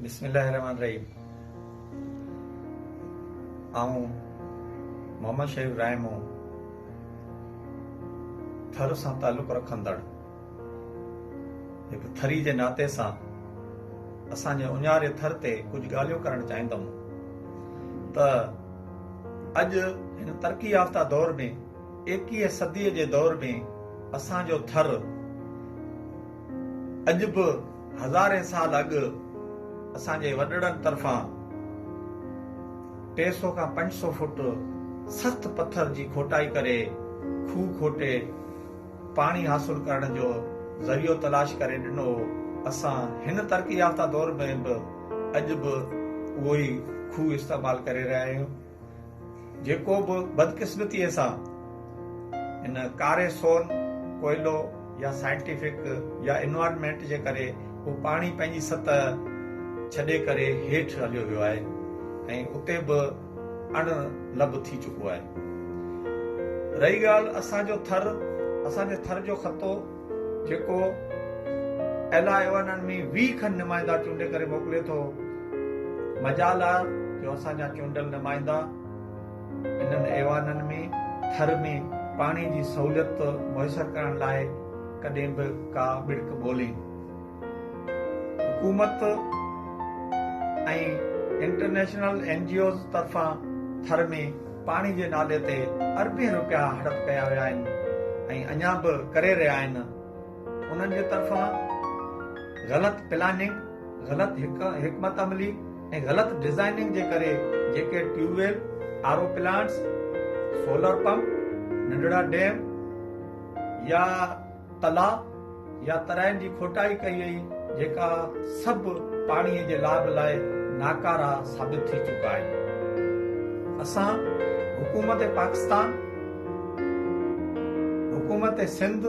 بسم الله الرحمٰن الرحيم آئون محمد شريف رائمو ٿر سان تعلق رکندڙ هڪ ٿري جي ناتي سان اسان جي اڃاري ٿر تي ڪجهه ڳالهيون ڪرڻ چاهيندم ته اڄ هن ترقي يافته دور ۾ ايڪيهه صدي جي دور ۾ اسان جو ٿر اڄ به هزارين سال اڳ اسان جي وڏڙن طرفان ٽي سؤ کان پنج سؤ فوٽ سخت پٿر جي کوٽائي ڪري کوهه کوٽي پاڻي حاصل ڪرڻ جو ذريعو تلاش ڪري ڏنو هو اسان هن ترقي يافته دور ۾ به اڄ به اهو ئي کوهه استعمال ڪري رهيا آهيون جيڪو به بدقسمتيء سان ان ڪاري سون، ڪوئلو يا سائنٽيفڪ يا انوائرمينٽ جي ڪري اهو پاڻي پنهنجي سطح ڇڏي ڪري هيٺ هليو ويو آهي ۽ اتي به اڻ لڀ ٿي چڪو آهي. رهي ڳالهه اسان جو ٿر، اسان جي ٿر جو خطو، جيڪو ايل آء ايون ان ۾ ويهه کن نمائندا چونڊي ڪري موڪلي ٿو، مجال آهي جو اسان جا چونڊيل نمائندا انهن ايوانن ۾ ٿر ۾ پاڻي جي سهوليت ميسر ڪرڻ لاء ڪڏهن به ڪا ٻڙڪ ٻولين. حڪومت ۽ انٽرنيشنل اين جي اوز طرفان ٿر ۾ پاڻي جي نالي تي اربين روپيا هڙپ ڪيا ويا آهن ۽ اڃا به ڪري رهيا آهن انهن جي طرفان غلط پلاننگ غلط حڪمت عملي ۽ غلط ڊزائننگ جي ڪري جيڪي tube well R O plants solar pump ننڍڙا ڊيم يا تلاء يا ترائين جي کوٽائي ڪئي وئي جيڪا سڀ پاڻي جي لاڀ لاء ناڪارا ثابت ٿي چڪا آهن اسان حڪومت پاڪستان حڪومت سنڌ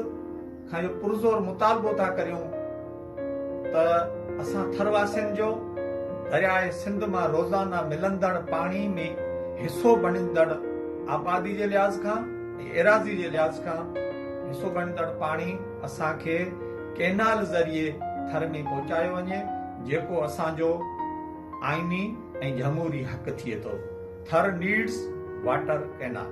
کان اهو پرزور مطالبو ٿا ڪريون ته اسان ٿر واسين جو درياء سنڌ مان روزانه ملندڙ پاڻي ۾ حصو بڻيندڙ آبادي جي لحاظ کان ۽ ايراضي جي لحاظ کان حصو بڻيندڙ پاڻي اسان کي ڪئنال ذريعي ٿر ۾ پهچايو وڃي جيڪو اسان جو آئيني ۽ جهموري حق ٿئي ٿو ٿر نيڊس واٽر ڪئنال.